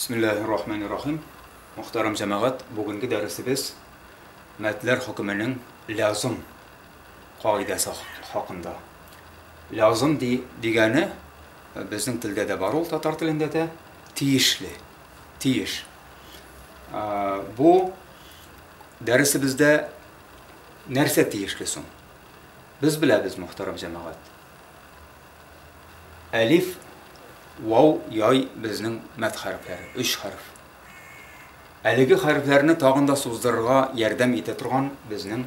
Бисмиллахир рахманир рахим. Мөхтәрәм җәмәгать, бүгенге дәресебез мәтләр хөкеменең лязым кагыйдәсе хакында. Лязым ди, дигәне э, безнең телдә дә бар ул татар телендә дә тиешле. Тиеш. Э, бу дәресебездә нәрсә тиешле соң? Без беләбез, мөхтәрәм җәмәгать. Әлиф, вау, яй безнең мәд хәрефләре, өч хәреф. Әлеге хәрефләрне тагын да суздырырга ярдәм итә торган безнең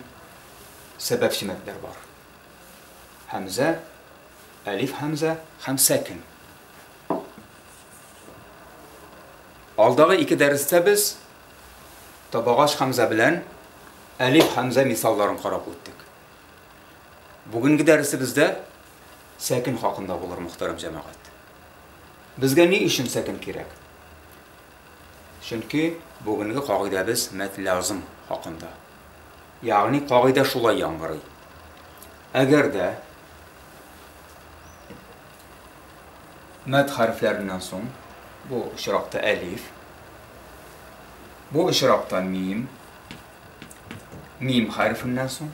сәбәпче мәдләр бар. Хәмзә, әлиф хәмзә һәм сәкин. Алдагы ике дәрестә без табагач хәмзә белән әлиф хәмзә мисалларын карап үттек. Бүгенге дәресебездә сәкен хакында булыр, мөхтәрәм җәмәгать. Безгә ни өчен сәкен кирәк? Чөнки бүгенге кагыйдәбез мәтлязым хакында. Ягъни кагыйдә шулай яңгырый. Әгәр дә мәт хәрефләреннән соң бу очракта әлиф, бу очракта мим, мим хәрефеннән соң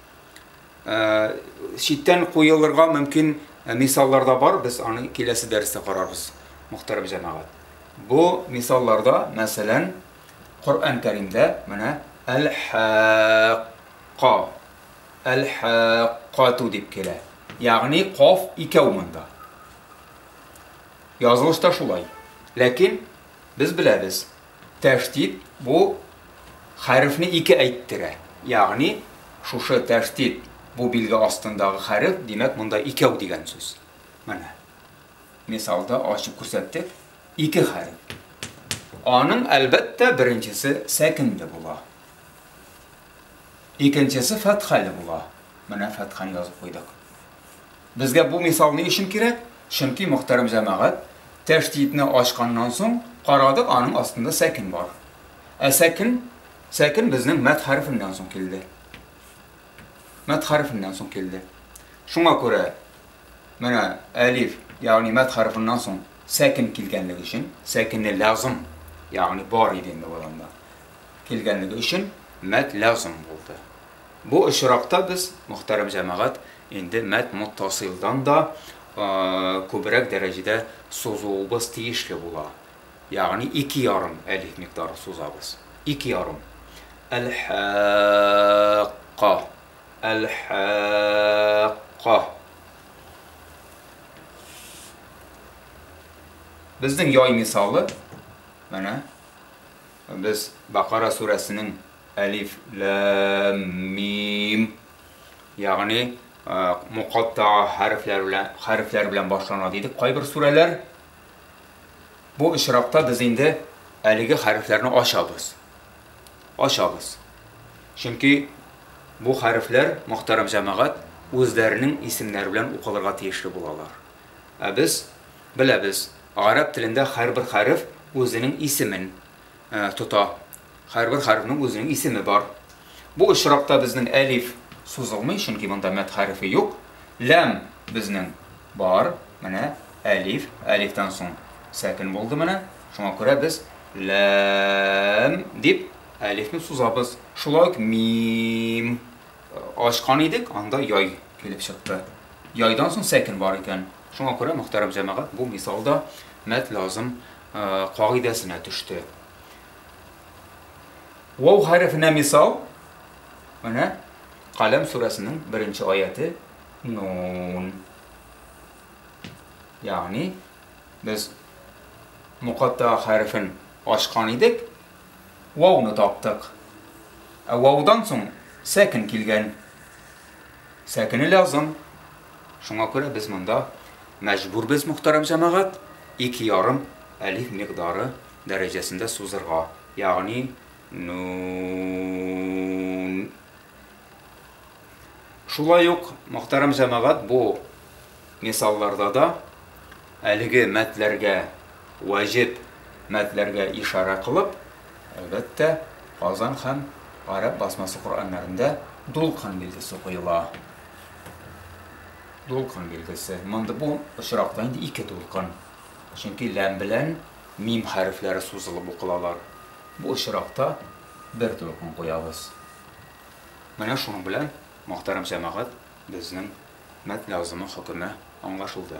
читтән куелырга мөмкин мисаллар да бар, без аны киләсе дәрестә карарбыз, мөхтәрәм җәмәгать. Бу мисалларда, мәсәлән, Коръән Кәримдә менә әл-хакка, әл-хаккату дип килә. Ягъни каф икәү монда. Язылышта шулай. Ләкин без беләбез, Тәшдид бу хәрефне ике әйттерә. Ягъни, шушы тәшдид, бу билге астындагы хәреф, димәк, монда икәү дигән сүз. Менә мисалда ачып күрсәттек, ике хәреф. Аның, әлбәттә, беренчесе сәкенле була. Икенчесе фәтхәле була. Менә фәтхәне язып куйдык. Безгә бу мисал ни өчен кирәк? Чөнки, мөхтәрәм җәмәгать, тәштитне ачканнан соң, карадык, аның астында сәкен бар. Ә сәкен, сәкен безнең мәт хәрефеннән соң килде. Мәт хәрефеннән соң килде. Шуңа күрә, менә әлиф, ягъни мәт хәрефеннән соң сәкен килгәнлеге өчен, сәкене лязым, ягъни бар иде инде бу адамда. Килгәнлеге өчен мәт лязым булды. Бу очракта без, мөхтәрәм җәмәгать, инде мәтмуттасыйлдан да күбрәк дәрәҗәдә сузуыбыз тиешле була, ягъни ике ярым әлиф микъдары сузабыз. Ике ярым. Әл-хәкка, әл-хәкка. Безнең яй мисалы, менә, без Бакара сүрәсенең Әлиф, ләм, мим. Ягъни, мукатта хәрефләр белән, хәрефләр белән башлана дидек кайбер сүрәләр. Бу очракта без инде әлеге хәрефләрне ачабыз. Ачабыз. Чөнки бу хәрефләр, мөхтәрәм җәмәгать, үзләренең исемнәре белән укылырга тиешле булалар. Ә без беләбез, гарәп телендә һәрбер хәреф үзенең исемен, тота. Һәрбер хәрефнең үзенең исеме бар. Бу очракта безнең әлиф сузылмый, чөнки монда мәд хәрефе юк. Ләм безнең бар. Менә әлиф, әлифтан соң сәкен булды менә. Шуңа күрә без ләм дип әлифне сузабыз. Шулай ук мим ачкан идек, анда яй килеп чыкты. Яйдан соң сәкен бар икән. Шуңа күрә, мөхтәрәм җәмәгать, бу мисалда мәт лазым кагыйдәсенә төште. Вау хәрефенә мисал, менә Каләм сүрәсенең беренче аяты Нун. Ягъни без мукатта хәрефен ачкан идек, вауны таптык. Ә ваудан соң сәкен килгән. Сәкене лязым. Шуңа күрә без монда мәҗбүрбез, мөхтәрәм җәмәгать, ике ярым әлиф микъдары дәрәҗәсендә сузырга, ягъни нун. Шулай ук, мөхтәрәм җәмәгать, бу мисалларда да әлеге мәтләргә, ваҗиб мәтләргә ишарә кылып, әлбәттә, Казан һәм гарәп басмасы Коръәннәрендә дулкын билгесе куела. Дулкын билгесе. Монда бу очракта инде ике дулкын. Чөнки ләм белән мим хәрефләре сузылып укылалар. Бу очракта бер дулкын куябыз. Менә шуның белән, мөхтәрәм җәмәгать, безнең мәт лязымның хөкеме аңлашылды.